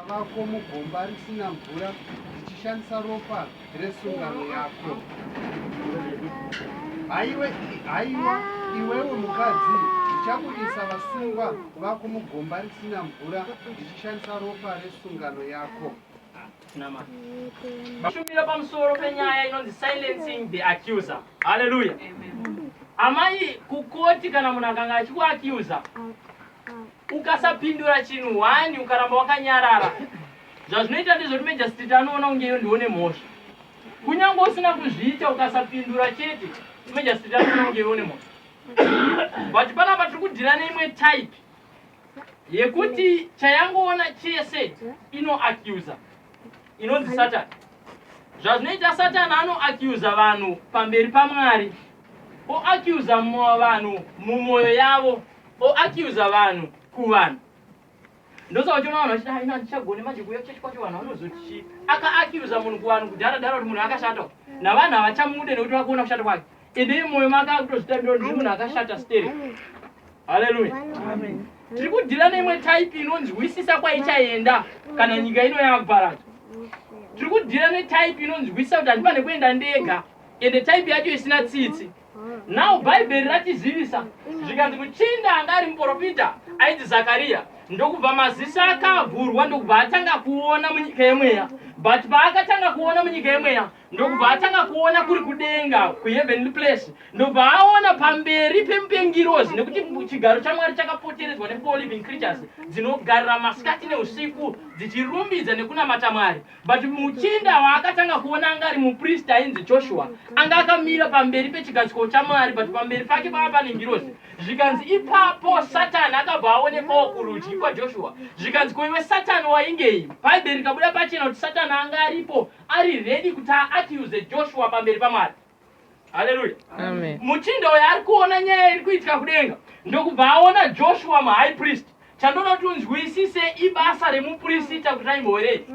Vako mugomba risina mvura ndichishandisa ropa resungano yako. Haiwe, haiwa iwewe mukadzi, ndichaburitsa vasungwa vako mugomba risina mvura ndichishandisa ropa resungano yako. Shumiro pamusoro penyaya inonzi silencing the accuser. Haleluya. Amai kukoti kana munhu akanga achikuacuser ukasapindura chinhu wani ukaramba wakanyarara zvazvinoita ndezvoti mejastiti anoona kunge iyo ndiwo nemhosva kunyange usina kuzviita ukasapindura chete mejastiti anoona kunge iyo nemhosva but panapa tiri kudhira neimwe type yekuti chayangoona chese inoacusa inonzi satani zvazvinoita satani anoacusa vanhu pamberi pamwari oacusa vanhu mumwoyo yavo o accuser vanhu kuvanhu ndosaka uchiona vanhu vachiti haina handichagone manje kuuya kuchechi kwacho vanhu vanozoti chii aka accuser munhu kuvanhu kudhara dhara kuti munhu akashata navanhu havachamude nekuti vakuona kushata kwake ende imoyo make akutozvitambira kuti munhu akashata stere haleluya tiri kudhira neimwe type inonzwisisa kwaichaenda kana nyika ino yakuparadzwa tiri kudhira netype inonzwisisa kuti handipane kuenda ndega ende type yacho isina tsitsi Now bhaibheri ratizivisa zvikanzi muchinda anga ari muporofita aiti zakariya ndokubva maziso akavhurwa ndokubva atanga kuona munyika yemweya but paakatanga kuona munyika yemweya ndokubva atanga kuona kuri kudenga kuheavenly place ndokubva aona pamberi pemupengirozi nekuti chigaro chamwari chakapoteredzwa nefour living creatures dzinogarira masikati neusiku dzichirumbidza nekunamata mwari But muchinda waakatanga kuona anga ari mupristi ainzi Joshua anga akamira pamberi pechigadziko chaMwari but pamberi pake pava pane ngirozi zvikanzi ipapo Satani akabva aonekwawo kurudyi kwaJoshua zvikanzi ko iwe Satani waingei Bhaibheri rikabuda pachena kuti Satani anga aripo ari ready kuti aacuse Joshua pamberi paMwari haleluya muchinda uyo ari kuona nyaya iri kuitika kudenga ndokubva aona joshua muhigh priest chandoda kuti unzwisise ibasa remupurisita kuti aimbowerei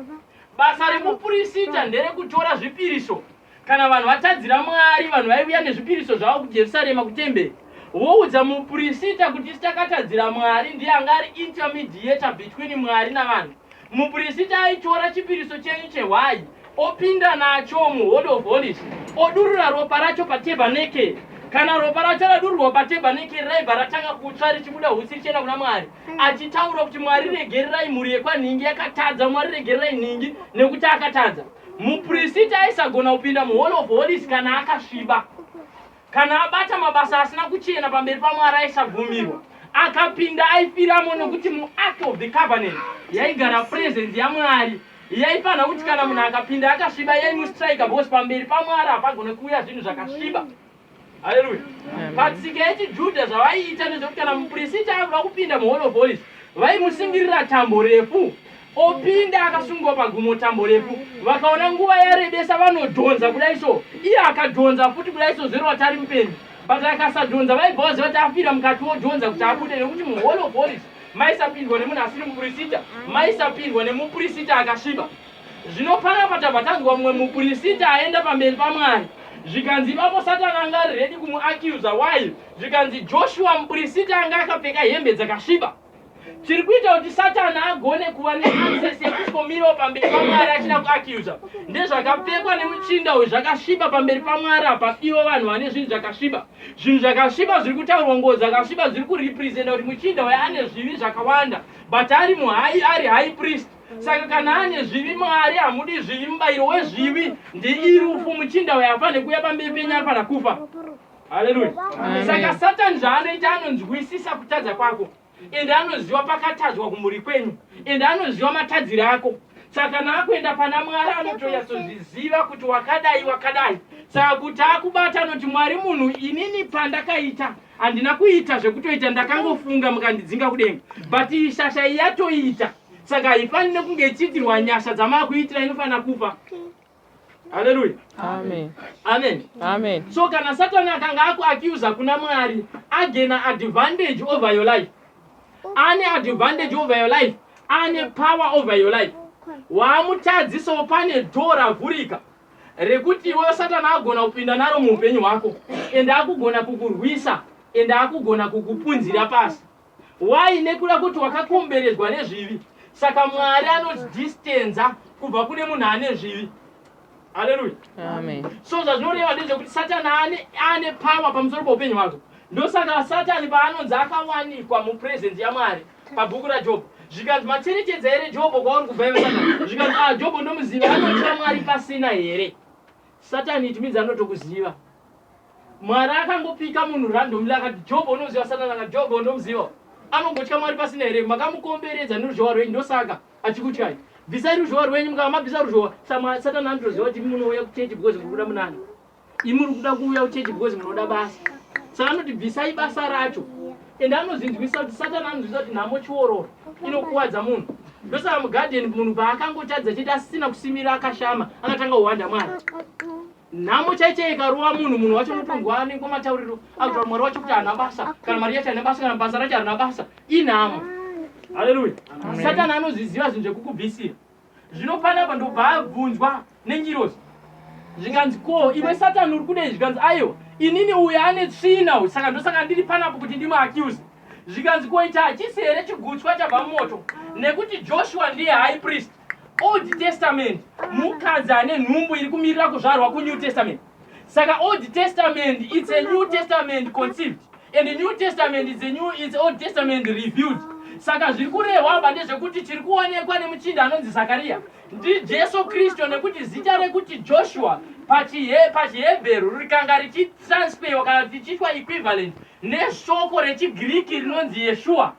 basa remupurisita nderekutora zvipiriso kana vanhu vatadzira mwari vanhu vaiuya nezvipiriso zvavo kujerusarema kutemberi voudza mupurisita kuti isi takatadzira mwari ndiye anga ari intermediator between mwari navanhu mupurisita aitora chipiriso chenyu chehwayi opinda nacho muholy of holies odurura ropa racho patebhaneke kana ropa racho radururwa patebhaneke raibva ratanga kutsva richibuda husi richienda kuna mwari achitaura kuti mwari regererai mhuri yekwanhingi yakatadza mwari regererai nhingi nekuti akatadza muprisiti aisagona kupinda muholy of holies kana akasviba Kana abata mabasa asina kuchena pamberi paMwari aisagumirwa. Akapinda aifiramo nokuti muArk of the Covenant yaigara presence yaMwari yaifanira kuti kana munhu akapinda akasviba yaimustrika because pamberi paMwari hapagone kuuya zvinhu zvakasviba. Haleluya. Patsika yechiJudha zvavaiita nezvekuti kana mupristi aida kupinda muHall of Holies vaimusingirira tambo refu opinda akasungwa pagumo tambo refu vakaona nguva yarebesa vanodhonza kudai so iye akadhonza futi kudai so zero vati ari mupenyu but akasadhonza vaibva vaziva kuti afira mukati wodhonza kuti abude nekuti muhall of holies maisapindwa nemunhu asiri mupurisita maisapindwa nemupurisita akasviba zvino panapa tabva tanzwa mumwe mupurisita aenda pamberi pamwari zvikanzi ipapo satani anga ari redi kumuacuza why zvikanzi joshua mupurisita anga akapfeka hembe dzakasviba chiri kuita kuti satani agone kuva neaccess yekushomirawo pamberi pamwari achida kuacusa ndezvakapfekwa nemuchinda uyu zvakasviba pamberi pamwari apa ivo vanhu vane zvinhu zvakasviba zvinhu zvakasviba zviri kutaurwa nguo dzakasviba zviri kurepresenta kuti muchinda uyo ane zvivi zvakawanda but ari muhai ari high priest saka kana ane zvivi mwari hamudi zvivi mubayiro wezvivi ndiirufu muchinda uyo afane kuuya pamberi penyu afana kufa haleluya saka satani zvaanoita anonzwisisa kutadza kwako ende anoziva pakatadzwa kumhuri kwenyu ende anoziva matadzire ako saka naakuenda pana mwari anotonyatsozviziva kuti wakadai wakadai saka kuti akubata anoti mwari munhu inini pandakaita handina kuita zvekutoita ndakangofunga mukandidzinga kudenga but ishasha iyatoita saka haifanire kunge ichiitirwa nyasha dzamaakuitira inofanira kufa haleluya amen amen amen so kana satani akanga akuacusa kuna mwari agena advantage over your life ane advantage over your life ane power over your life waamutadzisawo pane dho ravhurika rekuti iwewe satani agona kupinda naro muupenyu hwako ende akugona kukurwisa ende akugona kukupunzira pasi Why nekuda kuti wakakomberedzwa nezvivi saka mwari anodistenza kubva kune munhu ane zvivi haleluya so zvazvinoreva ndezvekuti satani ane ane power pamusoro poupenyu hwako ndosaka satani paanonzi akawanikwa mupresence yamwari pabhuku rajobo zvikanzi macherechedzo here jobo kwauri kubva iwe satani zvikanzi a ah, jobo ndomuziva anotya mwari pasina here satani it means anotokuziva Mwari akangopika munhu randomly akati Job unoziva Satani akati Job ndomuziva anongotya Mwari pasina here makamukomberedza neruzhowa rwenyu ndosaka achikutyai bvisai ruzhowa rwenyu mukava mabvisa ruzhowa samwa Satani anotoziva kuti munouya kuchechi because muri kuda munani imi muri kuda kuuya kuchechi because munoda basa saka anoti bvisai basa racho ende anozinzwisa kuti Satani anonzwisa kuti nhamo chiororo inokuvadza munhu ndosaka mugadheni munhu paakangotadza chete asisina kusimira akashama akatanga kuhwanda Mwari nhamo chaiche ikarova munhu munhu wacho unotongwa anengo matauriro akutaura mwari wacho kuti haana basa kana mari yacho haina basa kana basa racho harina basa inhamo haleluya satani anozviziva zvinhu zvekukubvisira zvino panapa ndobva abvunzwa nengirozi zvikanzi ko iwe satani uri kudei zvikanzi aiwa inini uyo ane tsvina uyu saka ndosaka ndiri panapo kuti ndimuaccuse zvikanzi ko ichi hachisi here chigutswa chabva mumoto nekuti joshua ndiye high priest Old Testament mukadzi ane nhumbu iri kumirira kuzvarwa kuNew Testament. Saka Old Testament it's a New Testament conceived and the New Testament is a new it's Old Testament revealed. Saka zviri kurehwa apa ndezvekuti chiri kuonekwa nemuchinda anonzi Zakaria ndiJesu Kristu nekuti zita rekuti Joshua pachiHebheru rikanga richitransfewa kana tichiitwa equivalent neshoko rechiGiriki rinonzi Yeshua.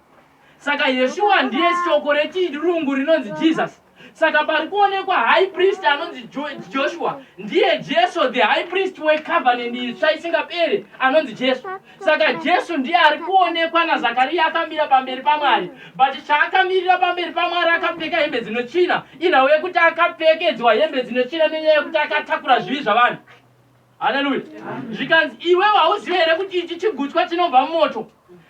Saka Yeshua ndiye shoko rechirungu rinonzi Jesus. Saka pari kuonekwa high priest anonzi Joshua ndiye Jesu the high priest wecovenant itsva isingapere anonzi Jesu. Saka Jesu ndiye ari kuonekwa naZakariya akamira pamberi paMwari. But chaakamirira pamberi paMwari akapfeka hembe dzinochina. Inhau yekuti akapfekedzwa hembe dzinochina nenyaya yekuti akatakura zvivi zvavanhu. Haleluya. Zvikanzi iwewe hauzive here kuti ichi chigutswa chinobva mumoto?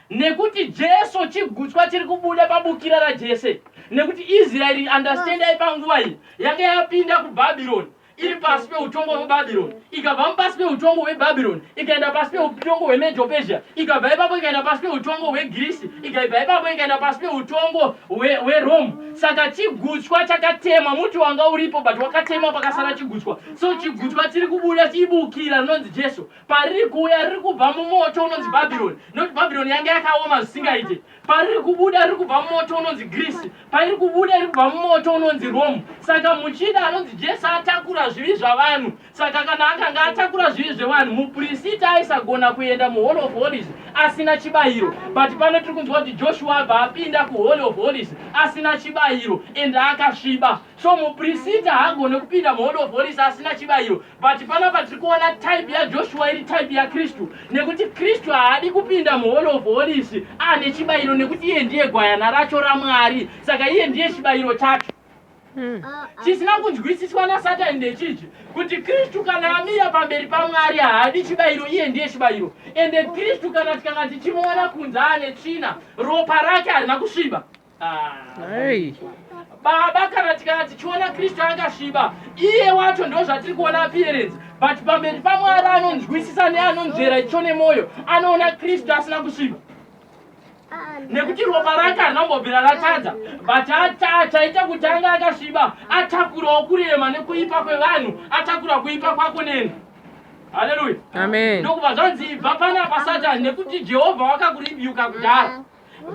Nekuti Jesu chigutswa chiri kubuda pabukira raJese. Nekuti Israeri understandai panguva iyi yanga yapinda kuBhabhironi iri pasi peutongo hweBhabhironi, ikabva mupasi peutongo hweBhabhironi ikaenda pasi peutongo hweMedopesia, ikabva ipapo ikaenda pasi peutongo hweGirisi, ikaibva ipapo ikaenda pasi peutongo hweRome. Saka chigutswa chakatemwa, muti wanga uripo but wakatemwa pakasara chigutswa. so chigutu patiri kubuda tiibukira rinonzi jesu pariri kuuya riri kubva mumoto unonzi bhabhironi nokuti bhabhironi yange yakaoma zvisingaite pariri kubuda riri kubva mumoto unonzi grisi pairi kubuda iri kubva mumoto unonzi romu saka muchida anonzi jesu atakura zvivi zvavanhu saka kana akanga atakura zvivi zvevanhu muprisita aisagona kuenda muhall of holies asina chibayiro but pano tiri kunzwa kuti joshua abva apinda kuhall of holies asina chibayiro ende akasviba So muprisita haagone kupinda muhall of holies asina chibayiro but panapa tiri kuona type yaJoshua iri type yaKristu nekuti Kristu haadi kupinda muhall of holies ane chibayiro nekuti iye ndiye gwayana racho raMwari saka iye ndiye chibayiro chacho. Hmm. Chisina kunzwisiswa naSatani ndechiji kuti Kristu kana amira pamberi paMwari haadi chibayiro iye ndiye chibayiro ende Kristu kana tikanga tichimuona kunze ane tsvina ropa rake harina kusviba. Hey. baba kana tikana tichiona kristu akasviba iye wacho ndo zvatiri kuona appearance but pamberi pamwari anonzwisisa neanonzvera icho nemwoyo anoona kristu asina kusviba nekuti ropa rake harinombobvira ratadza but achaita kuti ange akasviba atakurawo kurema nekuipa kwevanhu atakura kuipa kwako neni haleluya amen ndokuva zvanzi ibva panapa satani nekuti jehovha wakakuribiyuka kudhara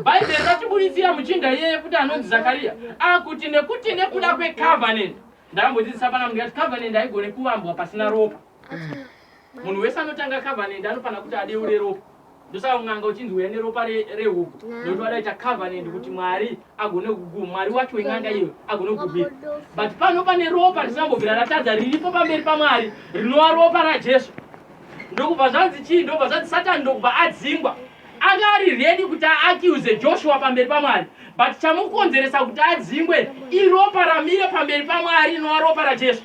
Bhaibheri ratiburitsira muchinda iyeye kuti anonzi Zakariya akuti nekuti nekuda kwecovenant ndambodzidzisa pana munhu yati covenant haigone kuvambwa pasina ropa munhu wese anotanga covenant anofanira kuti adeure ropa ndosaka un'anga uchinzi uya neropa rehuku nekuti vadaita covenant kuti mwari agone kugu mwari wacho wen'anga iyo agone kugubira but pano pane ropa risambobvira ratadza riripo pamberi pamwari rinova ropa rajesu ndokubva zvanzi chii ndokubva zvanzi satani ndokubva adzingwa Anga ari ready kuti a accuse Joshua pamberi paMwari but chamukonzeresa kuti adzingwe iropa ramire pamberi paMwari rinova ropa raJesu.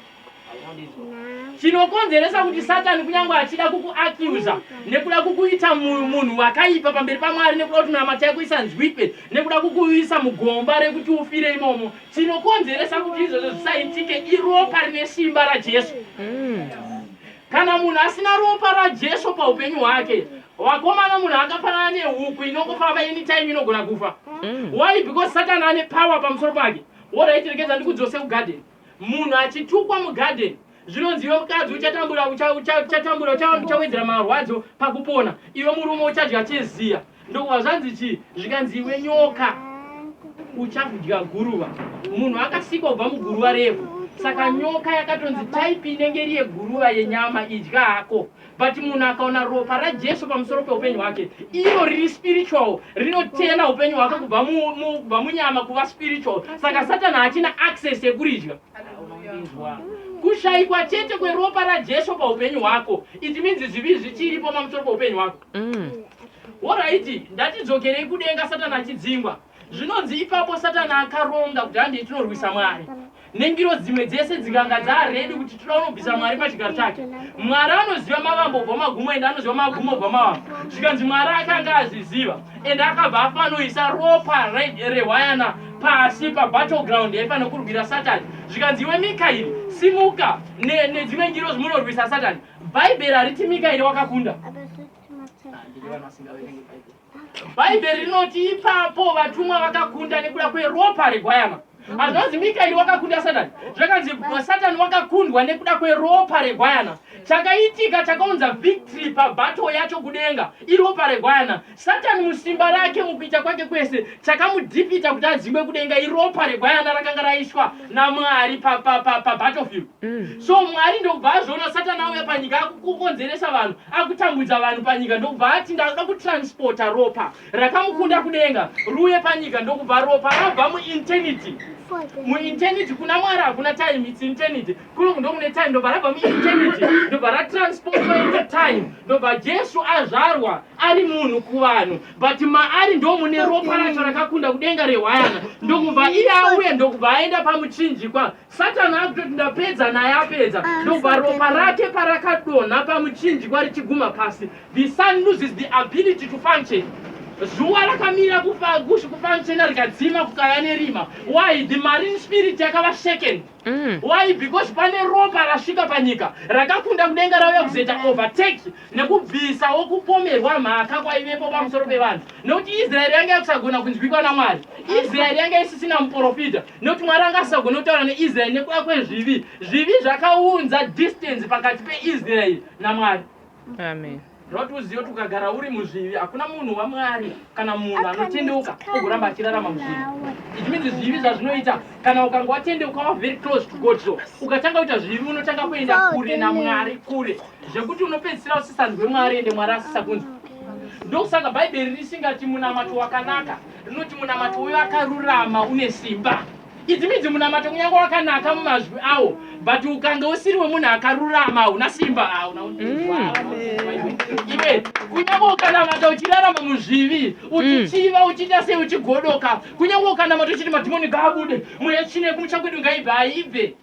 Chinokonzeresa kuti Satani kunyangwe achida kuku accuser nekuda kukuita munhu wakaipa pamberi paMwari nekuda kuti minamata yako isanzwikwe nekuda kukuisa mugomba rekuti ufire imomo chinokonzeresa kuti izvozvo zvisaitike iropa rine simba raJesu. Mm. Kana munhu asina ropa raJesu paupenyu hwake, wakomana munhu akafanana nehuku inongofamba anytime inogona kufa. Mm. Why? Because Satan ane power pamusoro pake. Alright, regedza ndikudzose kugarden. Munhu achitukwa mugarden, zvinonzi iwe mukadzi uchatambura, uchatambura, uchawedzera marwadzo pakupona. Iwe murume uchadya cheziya. Ndokuva zvanzi chii? Zvikanzi iwe nyoka uchakudya guruva. Munhu akasikwa kubva muguruva revhu. Saka nyoka yakatonzi type inenge iri yeguruva yenyama idya hako. But munhu akaona ropa raJesu pamusoro peupenyu hwake, iro riri spiritual, rinotena upenyu hwake kubva mu, mu, kubva munyama kuva spiritual. Saka Satani hachina access yekuridya. Kushaikwa chete kweropa raJesu paupenyu hwako, it means zvivi zvichiripo pamusoro peupenyu hwako. Mm. Horaiti, ndatidzokerei kudenga Satani achidzingwa. Zvinonzi ipapo Satani akaronga kuti handei tinorwisa Mwari. Nengiro dzimwe dzese dzinganga dzaaredi kuti toda unobvisa Mwari pachigaro chake. Mwari anoziva mavambo obva magumo ende anoziva magumo obva mavambo. Zvikanzi Mwari akanga azviziva ende akabva afanoisa ropa rehwayana pasi pabattleground yaifanokurwira Satani. Zvikanzi iwe Mikairi, simuka nedzimwe ne ngiro zvimunorwisa Satani. Bhaibheri hariti Mikaeri wakakunda. Bhaibheri rinoti ipapo vatumwa vakakunda nekuda kweropa regwayana. Hazvanzi Mikaeri wakakunda Satani. Zvakanzi Satani wakakundwa nekuda kweropa regwayana. Chakaitika chakaunza victory pabato yacho kudenga iropa regwayana. Satani musimba rake mukuita kwake kwese chakamudhipita kuti adzingwe kudenga iropa regwayana rakanga raiswa naMwari pabattlefield pa, pa, mm. so Mwari ndokubva azviona Satani auya panyika akukonzeresa vanhu akutambudza vanhu panyika ndokubva ati ndakuda kutransporta ropa rakamukunda kudenga ruye panyika ndokubva ropa rabva muinternity muinternity kuna Mwari hakuna time its internity kulungu ndokune time ndobva rabva mueternity ndobva ratransportwa into time ndobva jesu azvarwa ari munhu kuvanhu but maari ndomune ropa racho rakakunda kudenga rehwayana ndokubva iye auye ndokubva aenda pamuchinjikwa satani akutoti ndapedza naye apedza ah, ndokubva ropa rake parakadonha pamuchinjikwa richiguma pasi the sun loses the ability to function zuva rakamira kufanchena rikadzima kukaya nerima why the marine spirit yakava second Mm. Why? Because pane ropa rasvika panyika rakakunda kudenga rauya kuzoita overtake nekubvisawo kupomerwa mhaka kwaivepo pamusoro pevanhu nekuti Israeri yanga yakusagona kunzwikwa naMwari. Israeri yanga isisina muporofita nekuti Mwari anga asisagona kutaura neIsraeri nekuda kwezvivi. Zvivi zvakaunza distance pakati peIsraeri naMwari. Amen. Zvoda kuti uzive kuti ukagara uri muzvivi hakuna munhu wamwari kana munhu anotendeuka ogoramba achirarama muzvivi it means zvivi zvazvinoita kana ukanga watendeuka wa very close to god so ukatanga kuita zvivi unotanga kuenda kure namwari kure zvekuti unopedzisira usisanzwe mwari ende mwari asisakunzwa ndokusaka bhaibheri risingati munamato wakanaka rinoti munamato wevakarurama une simba Idzi midzi munamato kunyange wakanaka mumazwi awo but ukange usiri wemunhu akarurama hauna simba hauna iwe kunyange ukanamata uchirarama muzvivi uchichiva mm. uchiita sei uchigodoka kunyange ukanamata uchiti madhimoni ngaabude mweya tsvine kumucha kwedu ngaibve haibve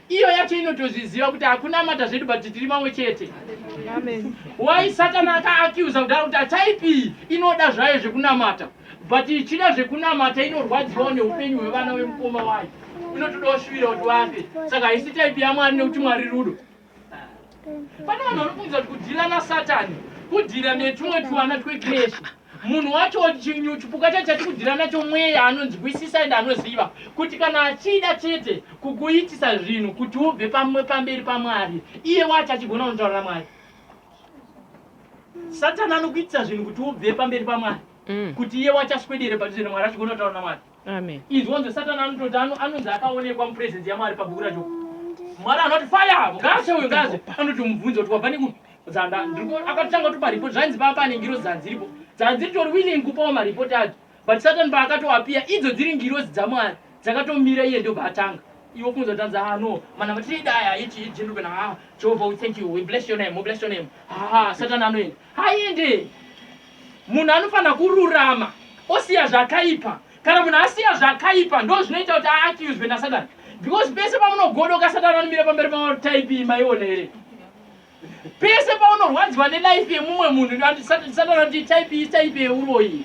iyo yacho inotozviziva kuti hakunamata zvedu but tiri vamwe chete wai satani akaakiuza kudaro kuti ataipi inoda zvayo zvekunamata but ichida zvekunamata inorwadziwawo neupenyu hwevana vemukoma wayo inotoda ushuvira kuti vafe saka haisi taipi yamwari nekuti mwari rudo pane vanhu vanofungiza kuti kudhila nasatani kudhila netumwe tuvana twekreshi Munhu wacho chinyu chipuka chacho chatikudhira nacho mweya anonzwisisa and anoziva kuti kana achida chete kukuitisa zvinhu kuti ubve pamwe pamberi pamwari iye wacho achigona unotaura namwari satani anokuitisa zvinhu kuti ubve pamberi pamwari mm. kuti iye wacho aswedere padhuze namwari achigona kutaura namwari Amen. Inzwa nzwe satani anototi ano anonzi akaonekwa mupresence yaMwari pabhuku racho. Mwari anoti fire ngaashe uyu ngaashe anoti mubvunzo kuti wabva neku dzanda ndiko akatanga kuti pareport zvainzi papa ane ngiro dzanzi ripo dzanzi ritori willing kupawo mareport acho but satani paakatoapiya idzo dziri ngirozi dzaMwari dzakatomira iye ndobva atanga iwe kunza tanza ah no mana matiri daya ichi ichi ndobena ah Jehovah we thank you we bless your name we bless your name ah satani anoenda Haende. Munhu anofanira kururama osiya zvakaipa. Kana munhu asiya zvakaipa ndo zvinoita kuti aaccuswe naSatani. Because pese pamunogodoka Satani anomira pamberi pamauri type maiona here? Pese paunorwadziwa nelife yemumwe munhu Satani anoti type type uroyi.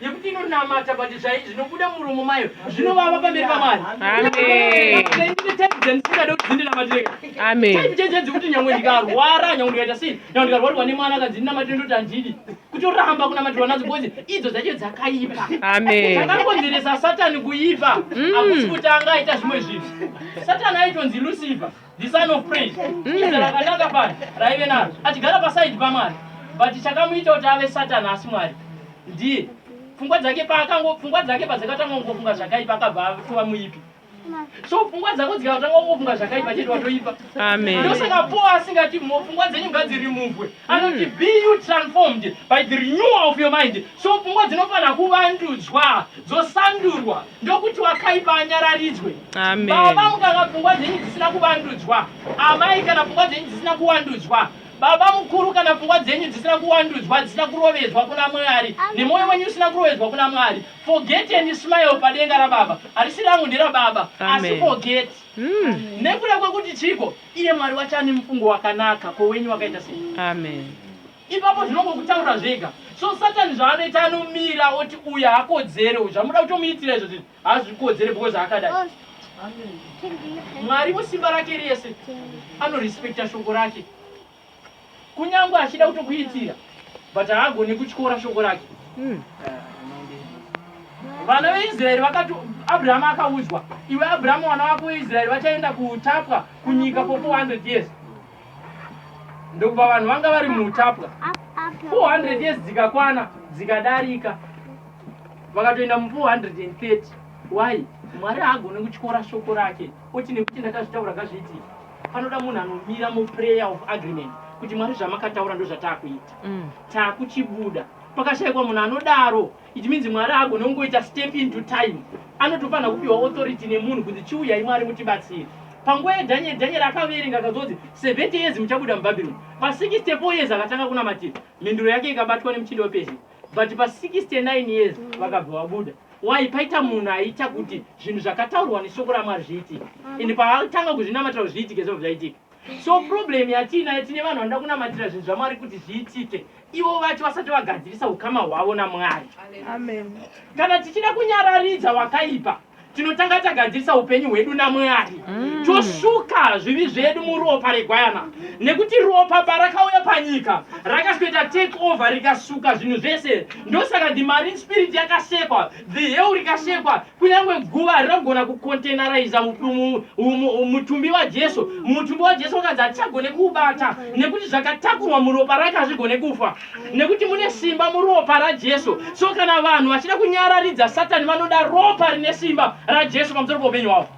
yekuti inonamata but zvai zvinobuda muromo mayo zvinovava pamberi pamwari ndisingada kuti dzindinamatire chaichaichadzi kuti nyangwe ndikarwara nyangwe ndikaita sei nyangwe ndikarwarirwa nemwana akadzi ndinamatire ndoti handidi kutoramba kunamatirwa nadzo bcoz idzo dzacho dzakaipa dzakakonzeresa satani kuipa mm. akusi kuti anga aita zvimwe zvinhu satani aitonzi lucifer the son of praise izera rakanaka pano raive naro achigara pasaidi pamwari but chakamuita kuti ave satani asi mwari ndiye pfungwa dzake paakango pfungwa dzake padzakatanga kungofunga zvakaipa akabva atova muipi so pfungwa dzako dzikatanga kungofunga zvakaipa chete watoipa ndosaka po asingati pfungwa dzenyu ngadzirimuvwe anoti hmm. be you transformed by the renewal of your mind so pfungwa dzinofanira kuvandudzwa dzosandurwa ndokuti wakaipa anyararidzwe baba mukanga pfungwa dzenyu dzisina kuvandudzwa amai kana pfungwa dzenyu dzisina kuwandudzwa baba mukuru kana pfungwa dzenyu dzisina kuwandudzwa dzisina kurovedzwa kuna mwari nemwoyo wenyu usina kurovedzwa kuna mwari forget and smile padenga rababa harisi rangu nderababa asi forget mm. nekuda kwekuti chiko Iye Mwari wacho ane mufungo wakanaka ko wenyu wakaita sei? Amen. Ipapo zvinongokutaura zvega. So Satan zvaanoita anomira oti uyu hakodzere uyu zvamuda kutomuitira izvo zvinhu hazvikodzere because akadai. Mwari musimba rake rese anorespecta shoko rake. kunyangwe achida kutokuitira but haagone kutyora shoko rake hmm. vana veisraeri vakati abrahamu akaudzwa iwe abrahamu vana vako veisraeri vachaenda kuutapwa kunyika for 400 years ndokuva vanhu vanga vari muutapwa 400 years dzikakwana dzikadarika vakatoenda mu 430 why mwari haagone kutyora shoko rake oti nekuti ndakazvitaura kazviitika Panoda munhu anomira mu prayer of agreement kuti Mwari zvamakataura ndozvatakuita takuchibuda pakashaikwa munhu anodaro it means Mwari haagone kungoita step into time anotofanha kupiwa authority nemunhu kunzi chiuyai Mwari mutibatsire panguva yeDaniel Daniel akaverenga akazonzi 70 years muchabuda muBabylon pa 64 years akatanga kunamatira mhinduro yake ikabatwa nemuchinda wePersia but pa 69 years vakabva vabuda Why paita munhu aita kuti zvinhu zvakataurwa neshoko raMwari zviitike and paatanga kuzvinamatira kuti zviitike zvobva zvaitika. So problem yatiinayo tine vanhu vanoda kunamatira zvinhu zvaMwari kuti zviitike ivo vacho vasati vagadzirisa ukama hwavo naMwari. Amen. Kana tichida kunyararidza wakaipa tinotanga tagadzirisa upenyu hwedu naMwari mm. tosuka zvivi zvedu muropa regwayana nekuti ropa parakauya panyika rakasweta take over rikasuka zvinhu zvese Ndosaka the marine spirit yakasekwa, the hell rikasekwa, kunyangwe guva harina kugona kucontaineriza mutumbi waJesu. Mutumbi waJesu wakadzi hatichagone kuubata nekuti zvakatakurwa muropa rake hazvigone kufa nekuti mune simba muropa raJesu. So kana vanhu vachida kunyararidza Satani vanoda ropa rine simba raJesu pamusoro poupenyu hwavo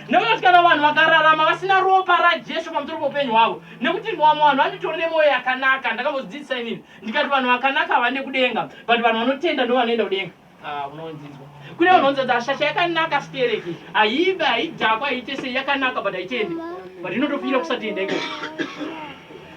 nekuti kana vanhu vakararama vasina ropa rajesu pamusoro poupenyu hwavo nekuti vamwe vanhu vanotori nemwoyo yakanaka ndakambodzidzisa inini ndikati vanhu vakanaka havande kudenga but vanhu vanotenda ndo vanoenda kudenga ah, unonzizwa kune vanhu vanzi kuti ashasha yakanaka stereki haive haidhakwa haite sei yakanaka but haitende but inotopira kusatenda iko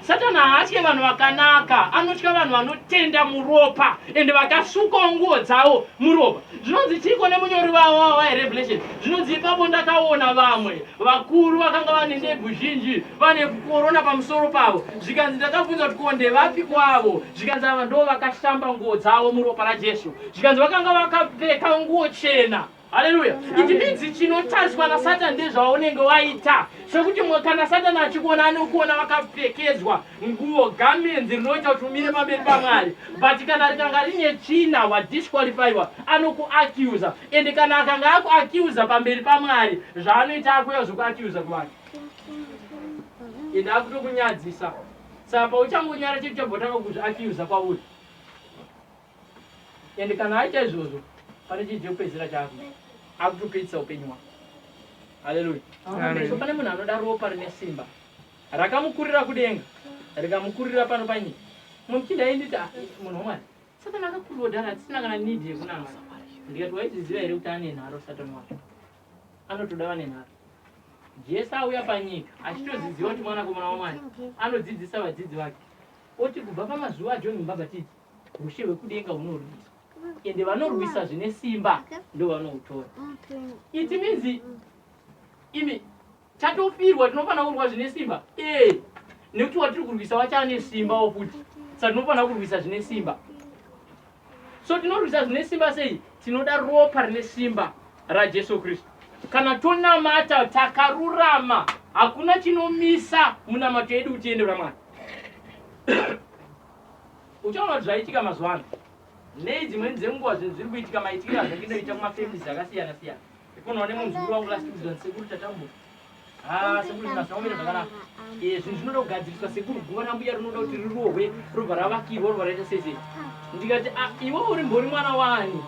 satani haatye vanhu vakanaka anotya vanhu vanotenda muropa ende vakasukawo nguvo dzavo muropa Zvinonzi chiiko nemunyori wavo wavo weRevelation? Zvinonzi ipapo ndakaona vamwe vakuru vakanga vane ndebvu zhinji vane korona pamusoro pavo, zvikanzi ndakabvunza kuti ko ndevapi kwavo? Zvikanzi ava ndo vakashamba nguo dzavo muropa raJesu, zvikanzi vakanga vakapfeka nguo chena. Haleluya! It means chinotariswa naSatan ndezvaunenge waita, sokuti kana Satan achikuona anokuona wakapfekedzwa Nguwo, garments, rinoita kuti umire pamberi paMwari but kana rikanga rine tsvina wa disqualifyiwa anokuaccuser and kana akanga akuaccuser pamberi paMwari zvaanoita akuuya zvekuaccuser kuvanhu and akutokunyadzisa saka pauchangonyara chete uchabvotanga kuzviaccuser kwauri and kana aita izvozvo pane chinhu chekupedzisira chako akutopedzisa upenyu hwako haleluya so pane munhu anoda ropa rine simba Rakamukurira kudenga rikamukurira pano panyika. Muchinda ainditi ah, munhu wamwari satani akakurodhara atisina kana need yekunamata ndikati waizviziva here kuti ane nharo satani wacho anotoda vane nharo jesu auya panyika achitoziziva kuti mwanakomana wamwari anodzidzisa vadzidzi vake oti kubva pamazuva ajoni mubhabhatidzi ushe hwekudenga hunorwiswa ende vanorwisa zvine simba ndovanohutora iti minzi imi Tatofirwa tinofanira kurwa zvine simba. Eh. Nekuti watiri kurwisa wachane simba wokuti. Saka tinofanira kurwisa zvine simba. So tinorwisa zvine simba sei? Tinoda ropa rine simba raJesu Kristu. Kana tonamata takarurama, hakuna chinomisa munamato yedu kuti tiende kuna Mwari. Uchaona kuti zvaitika mazuva ano. Nei dzimweni dzenguva zvinhu zviri kuitika maitikiro azvakinoita kumafamilies akasiyana siyana. Kuno wane munhu zvikuru wangu last week zvanzi sekuru tatambuka. Ah, sekuru zvina zvaomere zvakanaka. Eh, zvinhu zvinoda kugadziriswa sekuru guva rambuya rinoda kuti rirohwe robva ravakirwa robva raita sese. Ndikati ah, iwe uri mbori mwana wani?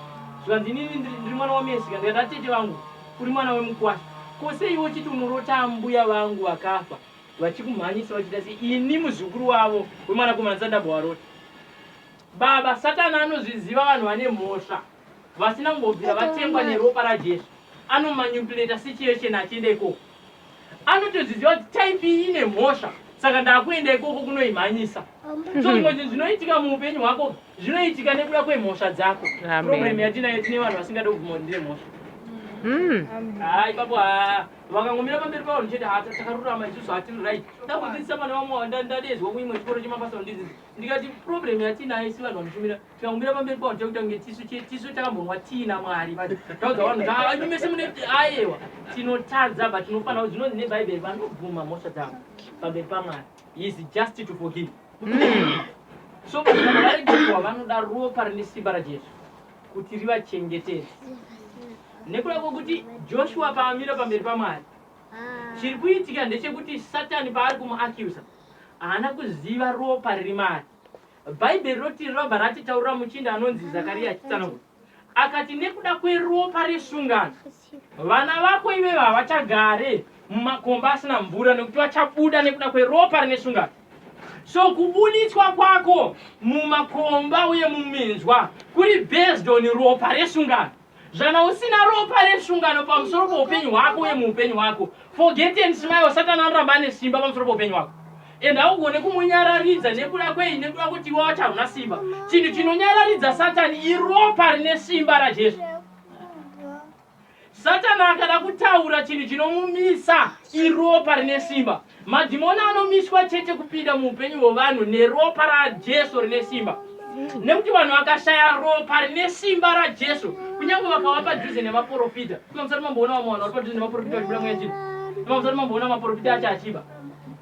Zvanzi inini ndiri mwana wamesika ndikati atete ah, vangu uri mwana wemukwasha. Ko sei iwe uchiti unorota ambuya vangu vakafa vachikumhanyisa vachita sei ini muzukuru wavo wemwanakomana sandambovarota. Baba satani anozviziva vanhu vane mhosva. vasina kumbobvira vatengwa neropa rajesu anomanyupuleta situation achienda ikoko anotoziziva kuti type iyi ine mhosva saka ndakuenda ikoko kunoimhanyisa so zvimwe zvinhu zvinoitika muupenyu hwako zvinoitika nekuda kwemhosva dzako problem yatinayo tine vanhu vasingade kubvuma kuti ndine mhosva Hmm. hayi babo ha vakangomira pamberi pavo ndichiti ha takarurama isusu hatiri right ndakudzidzisa vana vamwe ndadezwa kuimwe chikoro chemabasa ndizizi ndikati problem yatinayo isi vanhu vanotumira Tikamira pamberi pavo tekuta kunge tisu tisu takambonwa tii naMwari but taudza vanhu kuti mese mune ayewa tinotadza but tinofanira zvinonzi neBhaibheri vanobvuma mhosva dzavo pamberi paMwari he is just to forgive hmm. so kuti vanhu varegerwa vanoda ropa rine simba raJesu kuti rivachengetedze nekuda kwokuti Joshua paamira pamberi paMwari ah. chiri kuitika ndechekuti Satani paari kumuacusa haana kuziva ropa riri maari Bhaibheri roti rinobva ratitaurira muchinda anonzi Zakaria achitsanangura akati, Nekuda kweropa resungano, vana vako ivevo havachagare mumakomba asina mvura, nekuti vachabuda nekuda kweropa rine sungano. So kubuditswa kwako mumakomba uye muminzwa kuri based on ropa resungano. Zvana usina ropa resungano pamusoro poupenyu hwako uye muupenyu hwako. Forget and smile satani anoramba ane simba pamusoro poupenyu hwako. And haugone kumunyararidza nekuda kwei nekuda kuti iwe wacho hauna simba. Chinhu chinonyararidza satani iropa rine simba raJesu. Satani akada kutaura chinhu chinomumisa iropa rine simba. Madhimoni anomiswa chete kupinda muupenyu hwevanhu neropa raJesu rine simba. Nekuti vanhu vakashaya ropa rine simba raJesu, kunyange vakava padhuze nevaporofita. Kuna musati mamboona vamwe vanhu vari padhuze nevaporofita vachibuda mweya chino. Kuna musati mamboona maporofita acho achiba.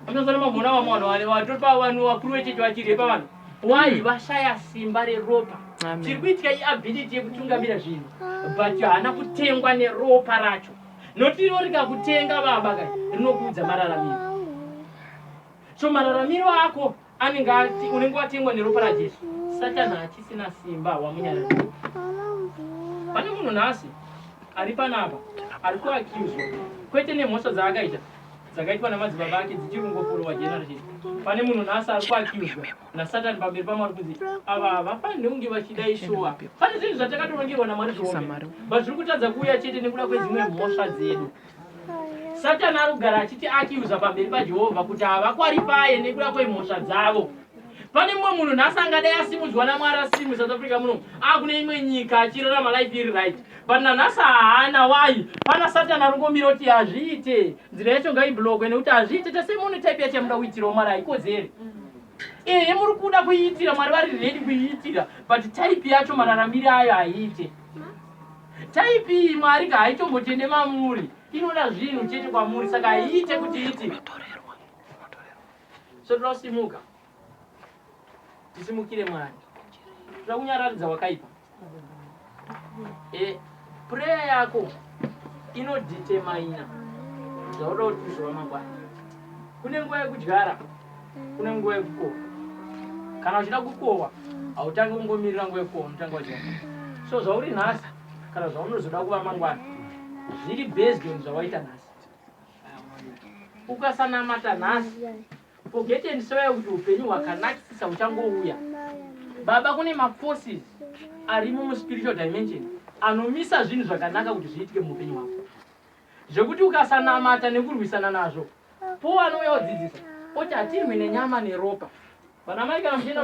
Kuna musati mamboona vamwe vanhu vatori pavanhu vakuru vechechi vachirepa vanhu. Why mm. vashaya simba reropa. Chiri kuitika iability yekutungamira zvinhu. But haana kutengwa neropa racho. Not iro rikakutenga baba ka rinokuudza mararamiro. So mararamiro ako anenge ati unenge watengwa neropa raJesu. Satani hachisina simba wamunyara. Pane munhu nhasi ari panapa ari kuaccuswa kwete nemhosva dzaakaita dzakaitwa namadzibaba ake dzichiri kungoforowa generation. Pane munhu nhasi ari kuaccuswa nasatani pamberi pamwari kunzi ava havafanirwe kunge vachidai shuwa pane zvinhu zvatakatorongerwa namwari zviombe but zviri kutadza kuuya chete nekuda kwedzimwe mhosva dzedu satani ari kugara achiti akiuza pamberi pajehovha kuti havakwarifaye nekuda kwemhosva dzavo pane mumwe munhu nhasi angadai asimudzwa namwari asiri musouth africa muno akune imwe nyika achirarama life iri right but nanhasi haana wai pana satani arongomira kuti hazviite nzira yacho ngaiblokwe nekuti hazviite tese mune type yachamuda kuitirawo mwari haikodzere mm -hmm. ehe muri kuda kuiitira mwari vari redi kuiitira but type yacho mararamire ayo haiite type iyi mwari ka haitombotende mamuri inoda zvinhu chete kwamuri saka haiite kuti iti so toda kusimuka tisimukire mwari toda kunyararidza wakaipa e, prayer yako inodetermina zvauda kuti kuzova mangwana kune nguva yekudyara kune nguva yekukohwa kana uchida kukohwa hautange kungomirira nguva yekukohwa unotanga wadyara so zvauri nhasi kana zvaunozoda kuva mangwana zviri based on zvawaita nhasi ukasanamata nhasi Forget and swear kuti upenyu hwakanakisisa huchangouya. Baba kune maforces arimo muspiritual dimension anomisa zvinhu zvakanaka kuti zviitike muupenyu hwako zvekuti ukasanamata nekurwisana nazvo po anouya odzidzisa oti hatirwi nenyama neropa vanamai kana muchienda